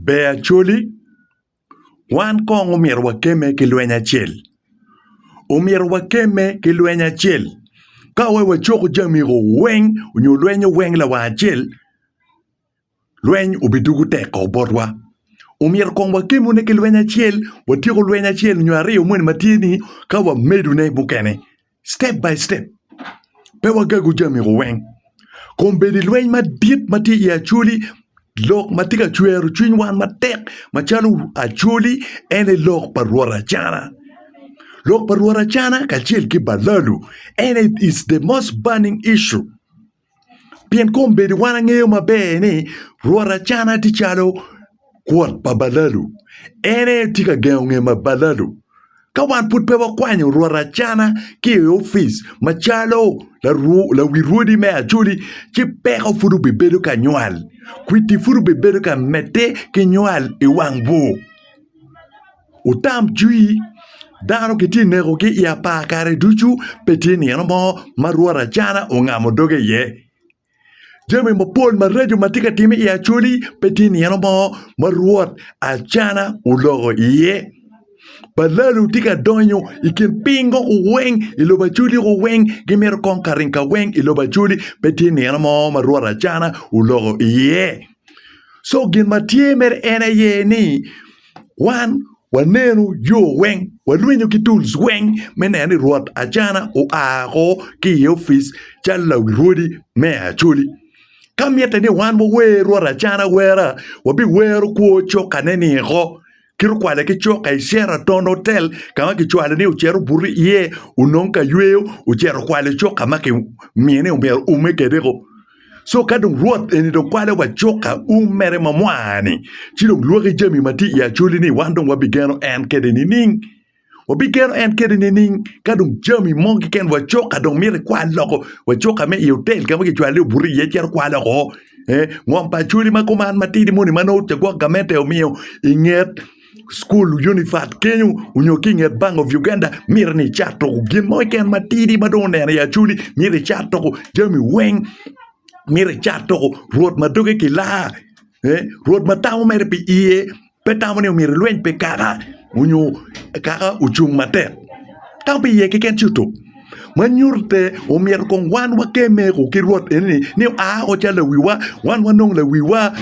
Ber Acholi, Wan kong omyero wakemme ki lweny acel. Omyero wakemme ki lweny acel. Ka aye wacoko jamigo weng nyo lwenyo weng lawang acel, lweny obidugo tek kong botwa. Omyero kong wakemone ki lweny acel, watyeko lweny acel nyo aryo moni ma tye-ni ka wamedone mukene. step by step. Pe wagagu jami weng. Kombedi lweny madit ma tye i Acholi lok ma tye ka cwero cwiny wan matek macalo Acholi en aye lok pa Rwot Acana. Lok pa Rwot Acana kacel ki balalu en aye is the most burning issue. pien kombeddi wan angeyo maber ni rwot acana tye calo kwot pa balalu en aye tye ka gengo nge ma balalu ka wan pud pe wakwanyo rwot acana ki i opic macalo lawi rwodi me acholi ci peko pud obibedo ka nywal kwiti pud obibedo ka medde ki nywal i wang bur. Wutam cwii, dano kitye ka nekogi i apar kare ducu, pe tye nino mo ma rwot acana ongamo doge iye. Jami mapol maraco ma tye ka timme i Acholi pe tye nino mo ma rwot acana oloko iye. Balalo tye ka donyo i kin pingo weng i lobo Acholi weng, gimito kong ka ringo ka weng i lobo Acholi, pe tye nino mo ma rwot acana oloko iye. Co gin ma tye mere en aye ni. Wan waneno yo weng, walwinyo ki tools weng me neno ni rwot Acana oa oko ki i opic calo lawi rwodi me Acholi. Ka mitte ni wan wawer rwot Acana wera, wabiwero kwo cokane ni oko, kit okwale ki coka i Sheraton Hotel ka ma kicwalo ni ocit obuto iye onong ka yweyo ocit okwalo coka ma kimiyo ni myero oume kwede-gu. Co ka dong Rwot eni dong kwale wa cuk ka um mere ma mwa-ni, ci dong lwoki jami ma tye i acoli-ni, wan dong wabigeno en kede nining? Wabigeno en kede nining? Ka dong jami mo keken wa cuk ka dong mito ikwal loko wa cuk ka me i otel ka ma kicwalo i obuto iye cito kwa loko, ee, ngom pa acoli ma kuman matidi moni ma nongo cagwok gamente omiyo inget. cukul unifat kenyo onyo ki i nget bank of Uganda myero ni icat tuku gin mo keken matidi ma dong oneno i acwali myero icat tuku jami weng myero icat tuku rwot ma doge ki laa rwot ma tamo mere pi iye pe tamo ni myero ilweny pi kaka onyo kaka ocung matek tamo pi iye keken ci otuk ma nyutte omyero kong wan wakeme ki rwot enoni ni oa woko calo lawiwa wan wanong lawiwa.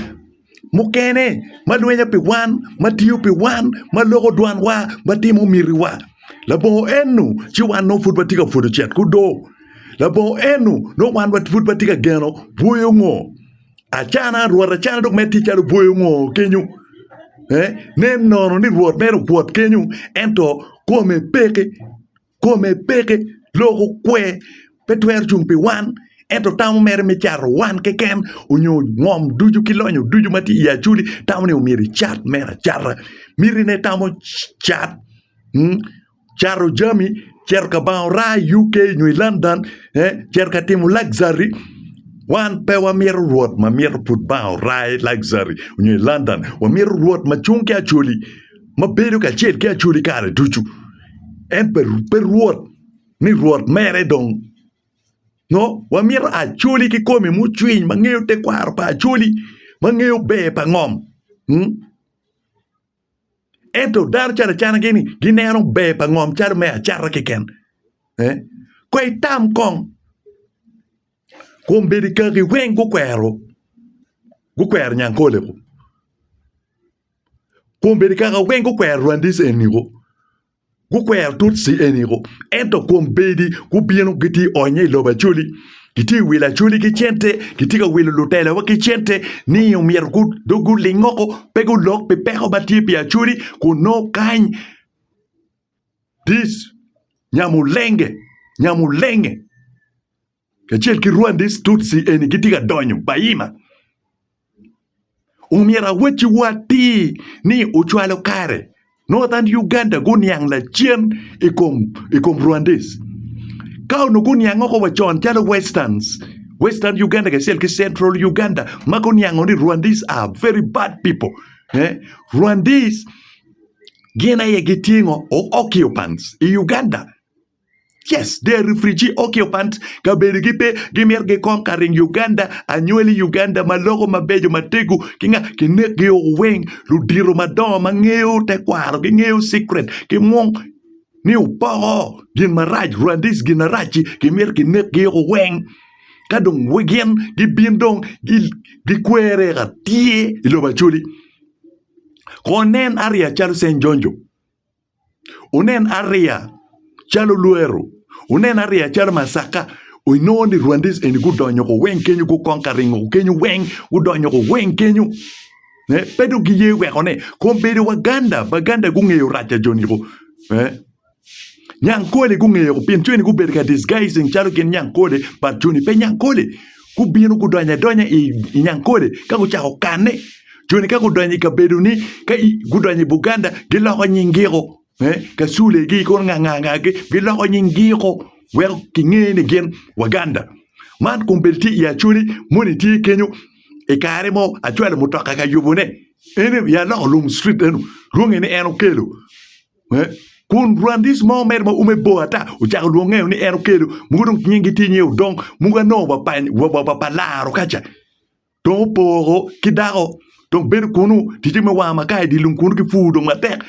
mukene ma lwenya pi wan, ma tiyo pi wan, ma loko dwanwa, ma timo mitiwa. Labongo eno ci wan nongo pud watye ka pwodo cet ki odo. Labongo eno nongo wan pud watye ka geno bwoyo ngo acana, Rwot acana dok mere tye calo bwoyo ngo kenyo. Nen nono ni Rwot mere owot kenyo ento kome peke. kome peke loko kwer pe twero cung pi wan ento tamo mere me cato wan keken onyo ngom ducu ki lonyo ducu ma tye i Acoli tamo ni omyero ecat mere acata miti ne tamo cat cato jami cito ka banga oraa i UK nyo i London cito ka timo luxury wan pe wamito rwot ma mito pud banga oraa i luxury nyo i London wamito rwot ma cung ki Acoli. ma bedo kacel ki Acholi kare ducu. En pe pe Rwot ni Rwot mere dong. No, wamito Acholi kikome mucwiny ma ngeyo tekwaro pa Acholi, ma ngeyo ber pa ngom. Mm? Ento dano calo acana gini gineno ber pa ngom calo me acata keken. Eh? Ko itam kong. Kom bedi kaki weng gukwero gukwero Nyankole-ku. kun bene kare weng gukwero Rwandese eniko, gukwero Tutsi eniko ento kun bedi gubino gitye ka onyo i lobo Acholi gitye ka wilo Acholi ki cente gitye ka wilo lutelowa ki cente ni omyero dong guling woko pe gulok pi peko ma tye pi Acholi kun nongo kany dis nyamulenge nyamulenge. kacel ki Rwandese Tutsi eni gitye ka donyo Bahima. Omyero awacci wa atir ni ocwalo kare Northern Uganda guniang lacen i kom i kom Rwandese. Ka onongo guniang oko wa con calo Westerns, Western Uganda kacel ki Central Uganda ma guniango ni Rwandese are very bad people. Eh? Rwandese gin aye gitye ngo? O- Occupants i Uganda. Yes they are refugee occupants kabedo gi pe gimito gi kong ka ring Uganda anywali Uganda ma loko ma bejo ma tego ki nga ki nek gi oo weng ludito ma dongo ma ngeyo te kwaro gi ngeyo secret ki mung ni opoko gin ma rac Rwandese gin ma rac ci ki mito ki nek gi oo weng ka dong we gin gi bin dong gi gi kwere ka tye i lobo acoli ko nen aria calo St Jonjo. wunen ariya calo lweru, wunen ariya calo macakka. Inongo ni Rwandese eni gudonyo ko weng kenyo, gukong ka ringo ko kenyo weng, gudonyo ko weng kenyo. Eh, pe dong giye weko ni kong bedo Waganda, Baganda gungeyo rac pa joni ko. Eh, Nyankole gungeyo ko pien joni gubedo ka disguising calo gin Nyankole, but joni pe Nyankole. gubino gudonyo adonya i Nyankole ka gucako kanne. Joni ka gudonyo i kabedoni, ka gudonyo i Buganda, giloko nyingiko. Eh, kasulegi kono ngangangagi giloko nyingiko weko kinge ni gin Waganda. Man kun bedi tye i Acholi moni tye kenyo i kare mo acwalo mutoka ka yubone. En ya loko lum street eno, rwonge ni en okelo. Kun rwandis mo mere ma ume bor ata ocako lwongo ngeo ni en okelo, mogo dong nyingi tye nyinge Odong, mogo anongo wa pa pa laro ka ca. Dong opoko ki dako dong bedo kunu, ticce me wanga makar i dye lum kunu ki pur dong matek.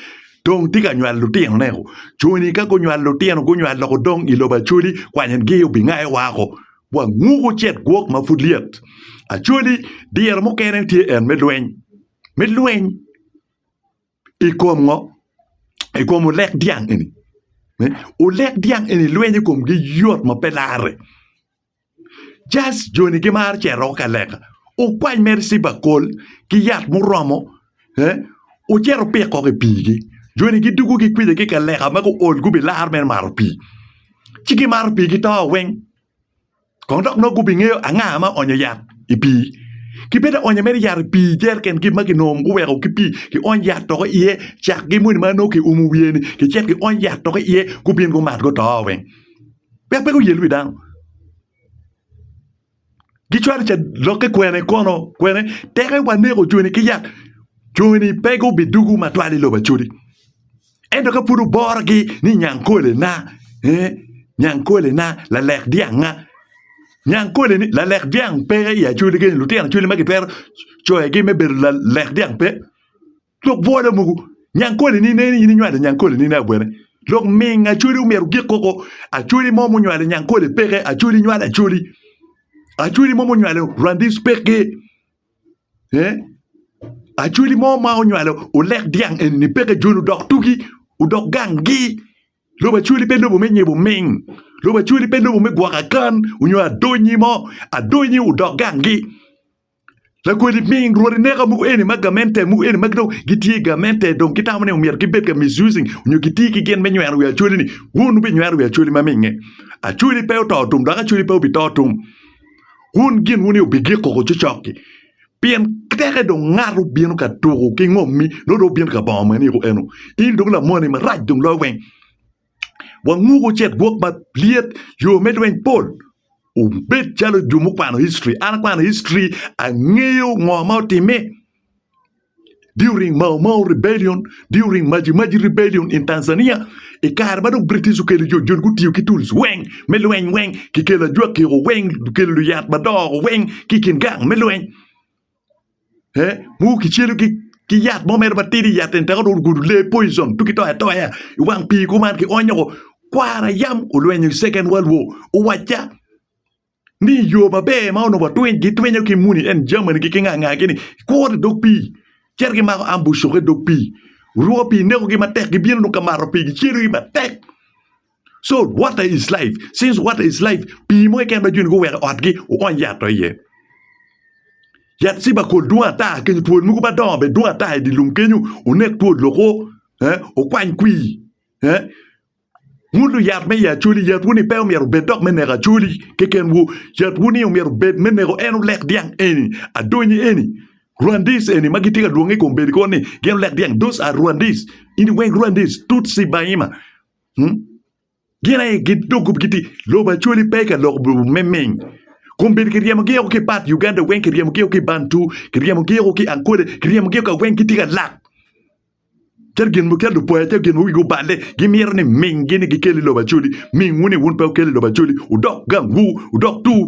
Dong tye ka nywalo lutinone ko. Coni ka gunywalo lutino gunywalo loko dong i lobo Acholi kwanygi obingayo wako. Wanguko cet gwok ma pud lyet. Acholi diro mukene tye en me lweny, me lweny. I kom ngo? I kom olek dyang eni. Olek dyang eni lweny i komgi yot ma pe larre. Jas joni gimaro cero ka leka. Okwany mere ciba kol ki yat muromo eh, ocito opik kok i pigi. Joni gidugo gikwija ki ka leka ma guol gubilar mere maro pii. Ci gimaro pii gito weng. Kono dok nongo gubingeyo anga ma oonyo yat i pii. Ki bed aonyo mere yat i pii jeriken kit ma kinongo guweko ki pii kiony yat toko iye, cakgi moni ma nongo kiumo wiye-ni kicito kiony yat toko iye gubin gumat guto weng. Wek pe guyel wi dano. Gicwalo ca lokke kwene kono kwene teke waneko joni ki yat, joni pe gubidwogo matwal i lobo acodi. Ento ka pud wuborogi ni Nyangkolena, ee, Nyangkolena, lalek dyanga, Nyangkoleni, lalek dyang pe i Acholi keni, lutino Acholi ma gitwero coyogi me bedo lalek dyang pe. Lok bwolo mogo, Nyangkoleni ne ni in inywalo Nyangkoleni ne abwene. Lok ming Acholi omyero ogik koko, Acholi mo ma onywalo Nyangkole peke, Acholi nywalo Acholi. Acholi mo ma onywalo Rwandis peke. Acholi mo ma onywalo olek dyang eni peke joni odok tugi odok gangi lobo acholi pe lobo me nyibo ming lobo acholi pe lobo me gwoko akan nyo adonyi mo adonyi odok gangi lakodi ming rwodi neka mogo eni ma gamente mogo eni ma dong gitye i gamente dong gitamo ni myero gibed ka misusing nyo giti ki gin me nyweno wi acholi-ni wun wubinyweno wi acholi ma minge acholi pe oto tum dok acholi pe obito tum. wun ginwu ni wubigiko ko cocok-ki, pien teke dong ngato bino ka tuko ki ngommi nongo dong wubino ka bongo maniko eno. In dong lamoni marac dong loyo weng! Wanguko cet gwok malyet, yo me lweny pol. Wubed calo jo mukwano history. An akwano history, angeyo ngo ma otimme. During Mau Mau Rebellion, during Maji Maji Rebellion in Tanzania, i kare ma dong British okelo jo joni gutiyo ki tools weng me lweny weng, kikelo ajwakiko weng, kikelo luyat madoko weng ki i kin gang me lweny. Eh, mogo kicelo ki ki yat mo mere matidi, yat en teko dong ogudo lee poison tuki toya toya i wang pii kuman kionyo ko. Kwara yam olwenyo i Second World War, owacca ni i yo maber ma onongo gitwinyo ki muni eni jamanigi ki ngangagi ni kuro i dog pii cito gimako ambucokke i dog pii, rwo pii nekogi matek gibino dong ka mato pii gicedogi matek co water is life since water is life pii mo keken ma joni guweko i otgi wuony yat to iye yat cibakol dwong ata kenyo twol mogo madongo bene dwong ata idilum kenyo onek twol lok o wukwany kwii. Ngulu yat me i Acholi, yatwu-ni pe omyero obed dok me neko Acholi kekenwu. Yatwu-ni omyero obed me neko en olek dyang eni, adonyi eni, Rwandese eni ma gitye ka lwonge i kom bedo kor ni gin olek dyang, those are Rwandese, eni weng Rwandese, Tutsi, Bahima. Hmm? Gin aye gin dog gup giti lobo Acholi pe ka lok bu- me ming. Kom bedo kiryemogi oko ki pat Uganda weng, kiryemogi oko ki Bantu, kiryemogi oko ki Ankole, kiryemogi oko ka weng gitye ka lak. Kit gin mo, kit lupoya, kit gin ma wigi oballe gimito ni minggi ni gikel i lobo Acholi, mingwu ni wun pe wukel i lobo Acholi, wudok gangwu, wudok tur.